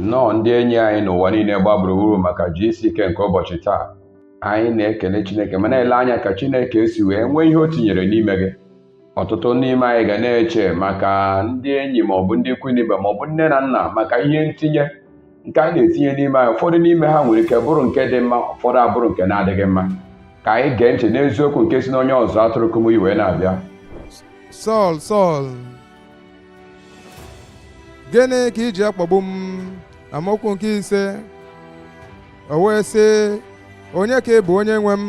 nnọọ ndị enyi anyị n'ụwa niile gba gburugburu maka GCK nke ụbọchị taa anyị na-ekele chineke ma na-ele anya ka chineke esi wee nwee ihe o tinyere n'ime gị ọtụtụ n'ime anyị ga na-eche maka ndị enyi ma ọ bụ ndị ikwu na ibe ma ọ bụ nne na nna maka ihe ntinye nke a na-etinye n'ime anyị ụfọdụ n'ime ha nwere ike bụrụ nke dị mma ụfọdụ abụrụ nke na-adịghị mma ka anyị gee ntị n'eziokwu nke si n'onye ọzụ atụrụ kumuyi wee na-abịa Sọl Sọl gịnị ka i ji akpagbu m amaokwu nke ise o wee sị onye ka ị bụ onye nwe m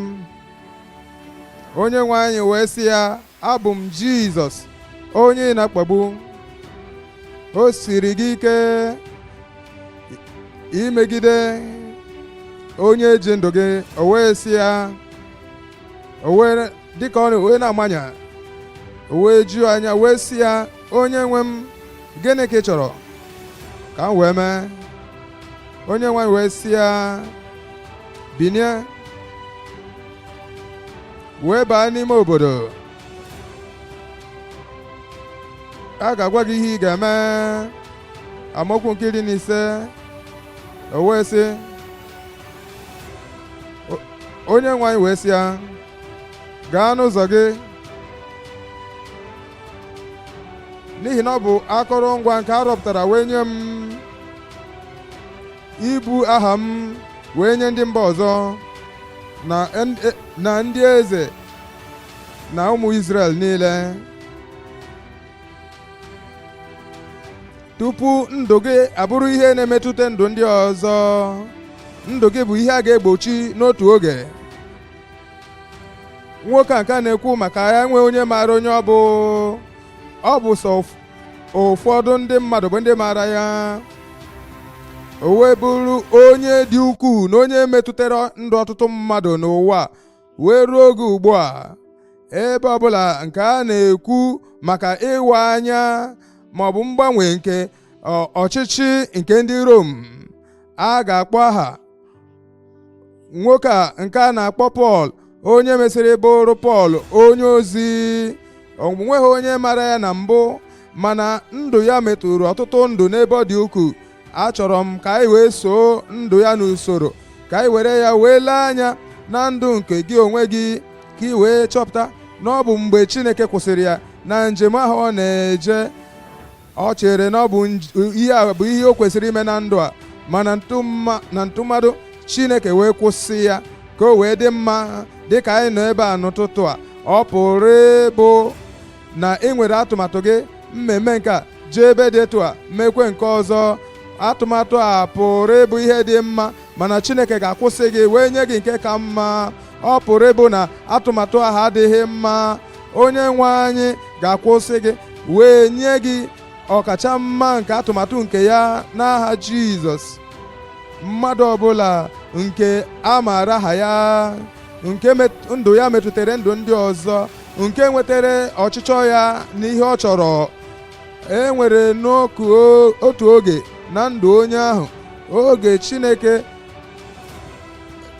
onye nwe anyị wee sị ya abụ m jizọs onye ị na-akpagbu o siri gị ike imegide onye ji ndụ gị o wee sị ya o wee dịka ọ wee na-amanya o wee juo anya wee sị ya onye nwe m gịnị ka ị chọrọ ka m wee mee onye nwe anyị wee sị ya binie wee baa n'ime obodo a ga-agwa gị ihe ị ga-eme amaokwu nke iri na ise o wee sị onye nwe anyị wee sị ya gaa n'ụzọ gị n'ihi na ọ bụ akụrụngwa nke a rọpụtara wee nye m ibu aha m wee nye ndị mba ọzọ na en- e- na ndị eze na ụmụ Izrel niile tupu ndụ gị abụrụ ihe na-emetụta ndụ ndị ọzọ ndụ gị bụ ihe a ga-egbochi n'otu oge nwoke a nke a na-ekwu maka ya enwe onye maara onye ọ bụ ọ bụ sọ ụf- ụfọdụ ndị mmadụ bụ ndị maara ya o wee bụrụ onye dị ukwuu na onye metụtara ndụ ọtụtụ mmadụ n'ụwa wee ruo oge ugbu a ebe ọbụla nke a na-ekwu maka ịwa anya ma ọ bụ mgbanwe nke ọ- ọchịchị nke ndị Rom a ga-akpọ aha nwoke a nke a na-akpọ pọl onye mesịrị bụrụ pọl onye ozi o nweghị onye mara ya na mbụ mana ndụ ya metụrụ ọtụtụ ndụ n'ebe ọ dị ukwuu achọrọ m ka anyị wee soo ndụ ya n'usoro ka anyị were ya wee lee anya na ndụ nke gị onwe gị ka ị wee chọpụta na ọ bụ mgbe Chineke kwụsịrị ya na njem ahụ ọ na-eje ọ chere na ọ bụ ihe a bụ ihe o kwesịrị ime na ndụ a mana na ntụmadụ Chineke wee kwụsị ya ka o wee dị mma dị ka anyị nọ ebe a n'ụtụtụ a ọ pụrụ ịbụ na ị nwere atụmatụ gị m ma-eme nke a jee ebe dị etu a mekwe nke ọzọ atụmatụ a pụrụ ịbụ ihe dị mma mana Chineke ga-akwụsị gị wee nye gị nke ka mma ọ pụrụ ịbụ na atụmatụ ahụ adịghị mma onye nwe anyị ga-akwụsị gị wee nye gị ọkacha mma nke atụmatụ nke ya n'aha Jizọs mmadụ ọbụla nke a maara aha ya nke ndụ ya metụtara ndụ ndị ọzọ nke nwetara ọchịchọ ya na ihe ọ chọrọ e nwere n'otu oge na ndụ onye ahụ oge Chineke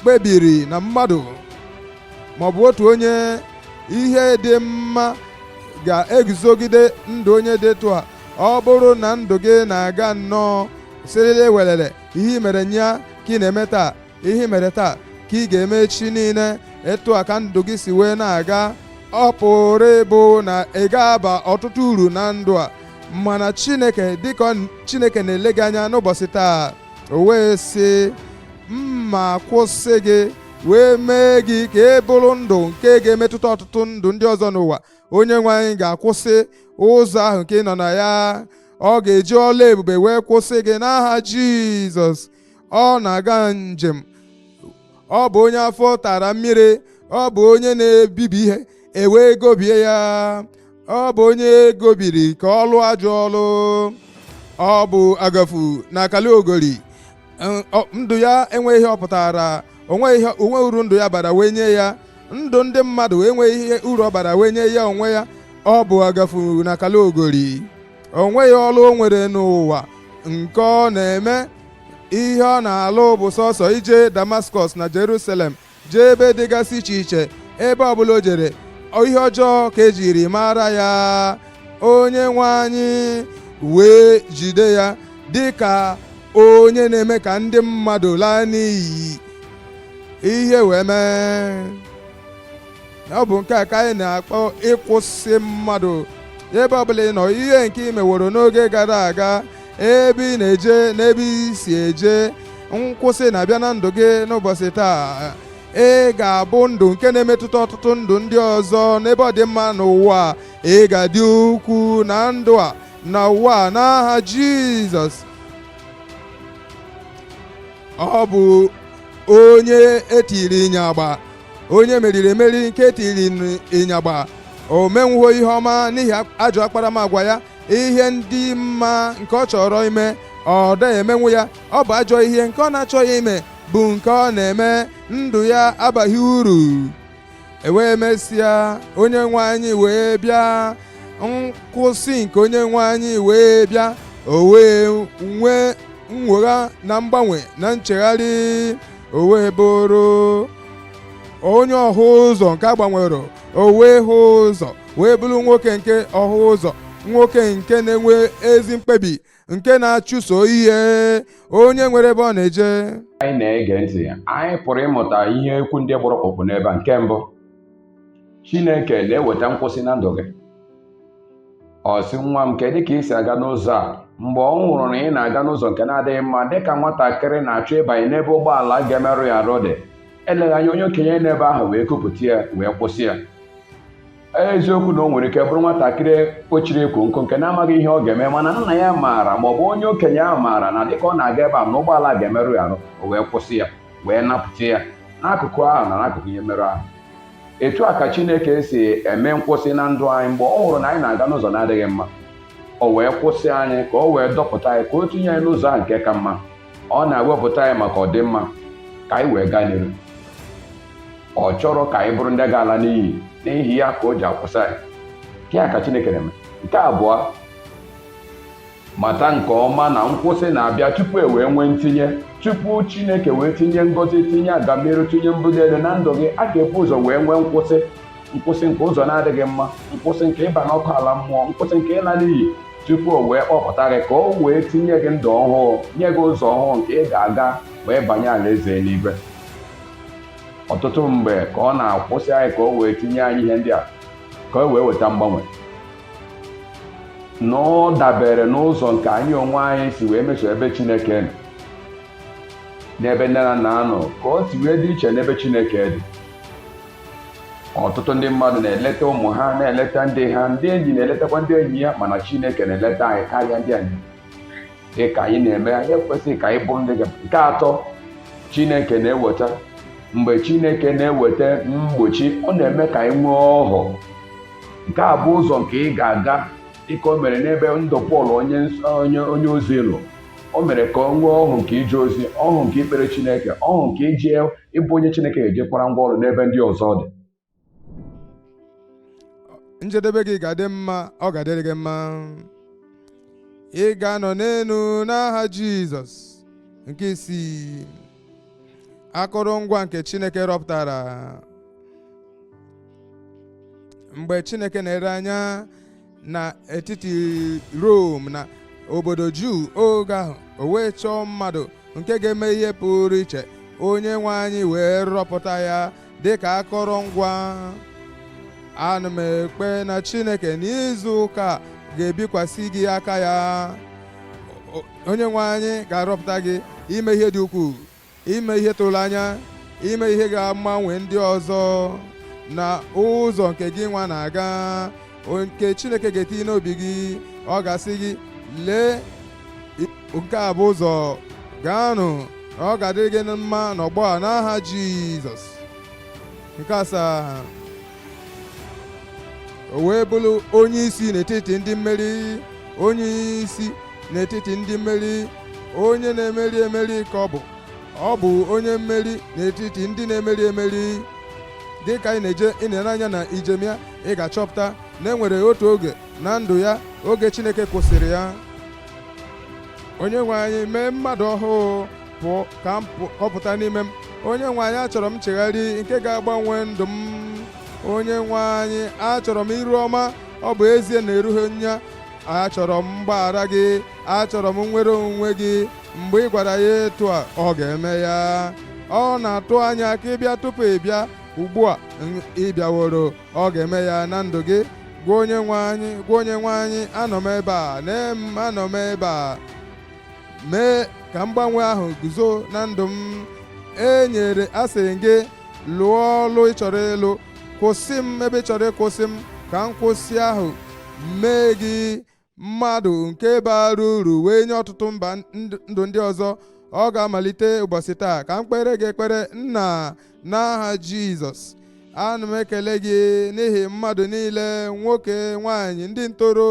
kpebiri na mmadụ maọbụ otu onye ihe dị mma ga-eguzogide ndụ onye dị etu a ọ bụrụ na ndụ gị na-aga nnọọ silili welele ihe i mere nnyaa ka ị na-eme taa ihe i mere taa ka ị ga-eme echi niile etu a ka ndụ gị si wee na-aga ọ pụrụ ịbụ na ị ga-aba ọtụtụ uru na ndụ a mana Chineke dịka Chineke na-ele gị anya n'ụbọchị taa o wee sị m ma-akwụsị gị wee mee gị ka ị bụrụ ndụ nke ga-emetụta ọtụtụ ndụ ndị ọzọ n'ụwa onye nwe anyị ga-akwụsị ụzọ ahụ nke ị nọ na ya ọ ga-eji ọlụ ebube wee kwụsị gị n'aha Jizọs ọ na-aga njem ọ bụ onye afọ tara mmiri ọ bụ onye na-ebibi ihe e wee gobie ya ọ bụ onye e gobiri ka ọ lụọ ajọ ọlụ ọ bụ agafu na akali ogori N- ọ- ndụ ya enweghị ihe ọ pụtara o nweghị ihe o nweghị uru ndụ ya bara wee nye ya ndụ ndị mmadụ enweghị ihe uru ọ bara wee nye ya onwe ya ọ bụ agafu na akali ogori o nweghị ọlụ o nwere n'ụwa nke ọ na-eme ihe ọ na-alụ bụ sọsọ ije Damaskọs na Jerusalem jee ebe dịgasị iche iche ebe ọbụla o jere ihe ọjọọ ka e jiri mara ya onye nwe anyị wee jide ya dịka onye na-eme ka ndị mmadụ laa n'iyi ihe wee mee ọ bụ nke a ka anyị na-akpọ ịkwụsị mmadụ ebe ọbụla ị nọ ihe nke ị meworo n'oge gara aga ebe ị na-eje na ebe i si eje nkwụsị na-abịa na ndụ gị n'ụbọchị taa ị ga-abụ ndụ nke na-emetụta ọtụtụ ndụ ndị ọzọ n'ebe ọ dị mma n'ụwa ị ga-adị ukwu na ndụ a na ụwa a n'aha Jizọs ọ bụ onye e tiri ịnyagba onye e meriri emeri nke e tiri ịnyagba o menwughị ihe ọma n'ihi ajọ akparamagwa ya ihe ndị mma nke ọ chọrọ ime ọ dịghị emenwu ya ọ bụ ajọ ihe nke ọ na-achọghị ime bụ nke ọ na-eme ndụ ya abaghị uru e wee mesịa onye nwe anyị wee bịa nkwụsị nke onye nwe anyị wee bịa o wee nwee nnwogha na mgbanwe na nchegharị o wee bụrụ onye ọhụ ụzọ nke a gbanwere o wee hụ ụzọ wee bụrụ nwoke nke ọhụ ụzọ nwoke nke na-enwe ezi mkpebi nke na-achụso ihe onye nwere ebe ọ na-eje anyị na-ege ntị anyị pụrụ ịmụta ihe okwu ndị gbara ọkpụrụkpụ n'ebe a nke mbụ Chineke na-eweta nkwụsị na ndụ gị ọ sị nwa m kedụ ka i si aga n'ụzọ a mgbe ọ hụrụ na ị na-aga n'ụzọ nke na-adịghị mma dịka nwatakịrị na-achọ ịbanye n'ebe ụgbọala ga-emerụ ya arụ dị eleghị anya onye okenye n'ebe ahụ wee kupụta ya wee kwụsị ya eziokwu na o nwere ike bụrụ nwatakịrị kpọchiri ekwo nkụ nke na-amaghị ihe ọ ga-eme mana nna ya maara ma ọ bụ onye okenye ahụ maara na dịka ọ na-aga ebe a na ụgbọala ga-emerụ ya arụ o wee kwụsị ya wee napụta ya n'akụkụ ahụ na n'akụkụ ihe mmerụ ahụ etu a ka Chineke si eme nkwụsị na ndụ anyị mgbe ọ hụrụ na anyị na-aga n'ụzọ na-adịghị mma o wee kwụsị anyị ka o wee dọpụta anyị ka o tinye anyị n'ụzọ ahụ nke ka mma ọ na-ewepụta anyị maka ọdịmma ka anyị wee gaa n'iru ọ chọrọ ka anyị bụrụ ndị ga-ala n'iyi n'ihi ya ka o ji akwụsị anyị nke a ka Chineke na-eme nke abụọ mata nke ọma na nkwụsị na-abịa tupu e wee nwee ntinye tupu Chineke wee tinye ngọzi tinye agamniru tinye mbuli elu na ndụ gị a ga-ebu ụzọ wee nwee nkwụsị nkwụsị nke ụzọ na-adịghị mma nkwụsị nke ịba n'ọkụ ala mmụọ nkwụsị nke ịla n'iyi tupu o wee kpọpụta gị ka o wee tinye gị ndụ ọhụụ nye gị ụzọ ọhụụ nke ị ga-aga wee banye alaeze eluigwe ọtụtụ mgbe ka ọ na-akwụsị anyị ka o wee tinye anyị ihe ndị a ka o wee weta mgbanwe na ọ dabere n'ụzọ nke anyị onwe anyị si wee meso ebe Chineke nọ n'ebe nne na nna nọ ka o si wee dị iche n'ebe Chineke dị ọtụtụ ndị mmadụ na-eleta ụmụ ha na-eleta ndị ha ndị enyi na-eletakwa ndị enyi ya mana Chineke na-eleta anyị karịa ndị anyị dị ka anyị na-eme anyị ekwesịghị ka anyị bụrụ ndị nke atọ Chineke na-eweta mgbe Chineke na-eweta mgbochi ọ na-eme ka anyị nwee ọhụụ nke a bụ ụzọ nke ị ga-aga dịka o mere n'ebe ndụ Pọl onye ozi nọ o mere ka o nwee ọhụụ nke ije ozi ọhụụ nke ikpere Chineke ọhụụ nke iji ịbụ onye Chineke ga-ejikwara ngwa ọrụ n'ebe ndị ọzọ dị njedebe gị ga-adị mma ọ ga-adịrị gị mma ị ga-anọ n'elu n'aha Jizọs nke isii akụrụngwa nke Chineke rọpụtara mgbe chineke na-ere anya n'etiti rom na obodo juu oge ahụ o wee chọọ mmadụ nke ga-eme ihe pụrụ iche onye nwe anyị wee rọpụta ya dị ka akọrọngwa ana m ekpe na chineke n'izu ụka ga-ebikwasị gị aka ya onye nwe anyị ga-arọpụta gị ime ihe dị ukwuu ime ihe tụrụ n'anya ime ihe ga-agbanwe ndị ọzọ na ụzọ nke gị nwa na-aga nke chineke ga-etinye n'obi gị ọ ga-asị gị lee nke a bụ ụzọ gaanụ ọ ga-adịrị gị na mma n'ọgbọ a n'aha jizọs nke asaa o wee bụrụ onye isi n'etiti ndị mmeri onye isi n'etiti ndị mmeri onye na-emeri emeri ka ọ bụ ọ bụ onye mmeri n'etiti ndị na-emeri emeri dị ka ị na-eje ị na-ele anya na ijem ya ị ga-achọpụta na enwere otu oge na ndụ ya oge Chineke kwụsịrị ya onye nwe anyị mee mmadụ ọhụụ pụọ ka ọ pụta n'ime m onye nwe anyị achọrọ m nchegharị nke ga-agbanwe ndụ m onye nwe anyị achọrọ m iru ọma ọ bụ ezie na erughị m ya achọrọ m mgbaghara gị achọrọ m nnwere onwe gị mgbe ị gwara ya etu a ọ ga-eme ya ọ na-atụ anya ka ị bịa tupu ị bịa ugbu a ị bịaworo ọ ga-eme ya na ndụ gị gwa onye nwe anyị gwa onye nwe anyị anọ m ebe a na anọ m ebe a mee ka mgbanwe ahụ guzo na ndụ m enyere asị m gị lụọ ọlụ ị chọrọ ịlụ kwụsị m ebe ị chọrọ ịkwụsị m ka nkwụsị ahụ mee gị mmadụ nke bara uru wee nye ọtụtụ mmadụ ndị ọzọ ọ ga-amalite ụbọchị taa ka m kpere gị ekpere nna n'aha jizọs ana m ekele gị n'ihi mmadụ niile nwoke nwanyị ndị ntoro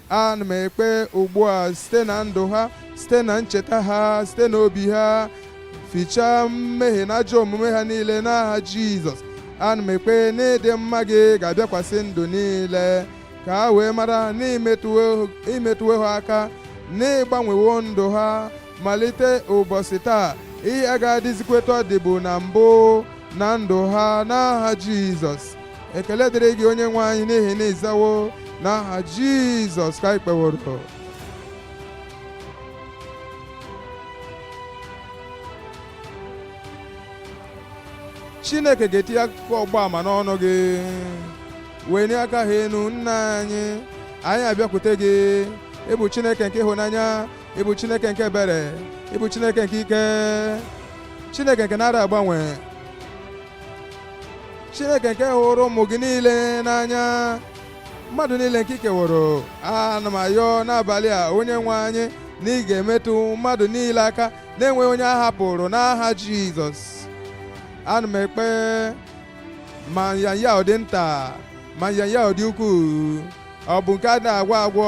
ana m ekpe ugbu a site na ndụ ha site na ncheta ha site na obi ha fichaa mmehie na ajọ omume ha niile n'aha jizọs ana m ekpe na ịdị mma gị ga-abịakwasị ndụ niile ka ha wee mara na i metụwo ha aka na ị gbanwewo ndụ ha malite ụbọchị taa ihe agaghị adịzikwa etu ọ dịbu na mbụ na ndụ ha n'aha jizọs ekele dịrị gị onye nwe anyị n'ihi na ị zawo n'aha jizọs ka anyị kpeworo chineke ga-etinye akụkọ ọgba ama n'ọnụ gị wenie aka ahụ enu nna anyị anyị abịakwute gị ị bụ chineke nke ịhụnanya ị bụ chineke nke ebere ị bụ chineke nke ike chineke nke na-ada agbanwe chineke nke hụrụ ụmụ gị niile n'anya mmadụ niile nke i keworo ana m ayọ n'abalị a onye nwe anyị na ị ga-emetụ mmadụ niile aka na-enweghị onye a hapụrụ n'aha jizọs ana m ekpe ma nyanya ọ dị nta ma nyanya ọ dị ukwuu ọ bụ nke ada agwọ agwọ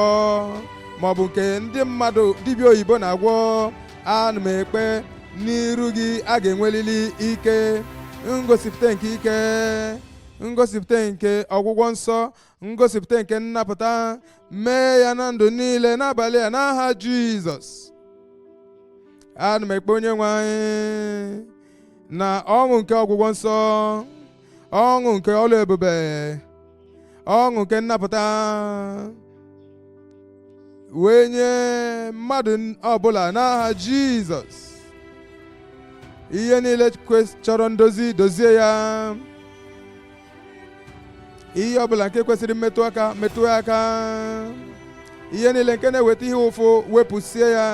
ma ọ bụ nke ndị mmadụ dibịa oyibo na-agwọ ana m ekpe n'iru gị a ga-enwelili ike ngosipụta nke ike ngosipụta nke ọgwụgwọ nsọ ngosipụta nke nnapụta mee ya na ndụ niile n'abalị a n'aha jizọs ana m ekpe onye nwe anyị na ọṅụ nke ọgwụgwọ nsọ ọṅụ nke ọlụ ebube ọṅụ nke nnapụta wee nye mmadụ ọbụla n'aha Jizọs ihe niile kwes- chọrọ ndozi dozie ya ihe ọbụla nke kwesịrị mmetụ aka metụ ya aka ihe niile nke na-eweta ihe ụfụ wepụsie ya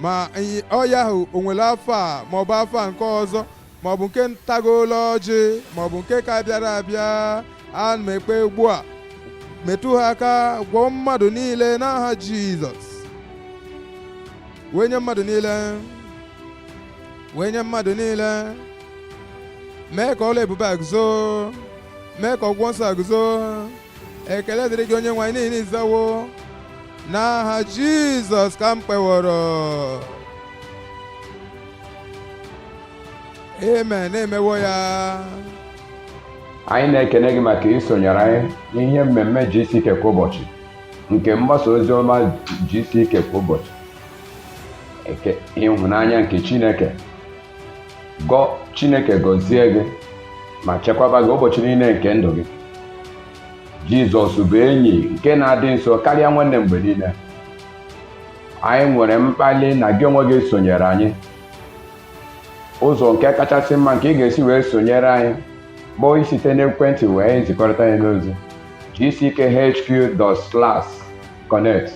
ma nya- ọya ahụ o nwere afa a maọbụ afa nke ọzọ maọbụ nke ntagoola ọjị maọbụ nke ka bịara abịa ana m ekpe ugbu a metụ ha aka gwọọ mmadụ niile n'aha jizọs wee nye mmadụ niile wee nye mmadụ niile mee ka ọlụ ebube a guzo mee ka ọgwụgwọ nsọ a guzo ekele dịrị gị onye nwe anyị n'ihi na ị zawo n'aha jizọs ka m kpeworo amen e mewo ya anyị na-ekene gị maka isonyere anyị n'ihe mmemme GCK kwa ụbọchị nke mgbasa ozi ọma GCK kwa ụbọchị ịhụnanya nke Chineke ka Chineke gọzie gị ma chekwaba gị ụbọchị niile nke ndụ gị Jizọs bụ enyi nke na-adị nso karịa nwanne mgbe niile anyị nwere mkpali na gị onwe gị sonyere anyị ụzọ nke kachasị mma nke ị ga-esi wee sonyere anyị bụ isite n'ekwentị wee nzikọrịta anyị n'ozi gckhq.connect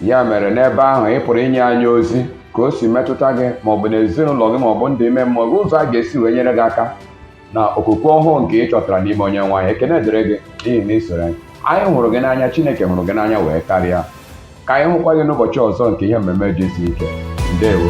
ya mere n'ebe ahụ ị pụrụ inye anyị ozi ka o si metụta gị maọbụ n'ezinụlọ gị maọbụ ndụ ime mmụọ gị ụzọ anyị ga-esi wee nyere gị aka na okwukwe ọhụụ nke ị chọtara n'ime onyenwe anyị ekene dịrị gị n'ihi na i soro anyị anyị hụrụ gị n'anya chineke hụrụ gị n'anya wee karịa ka anyị hụkwa gị n'ụbọchị ọzọ nke ihe mmemme gck ndewo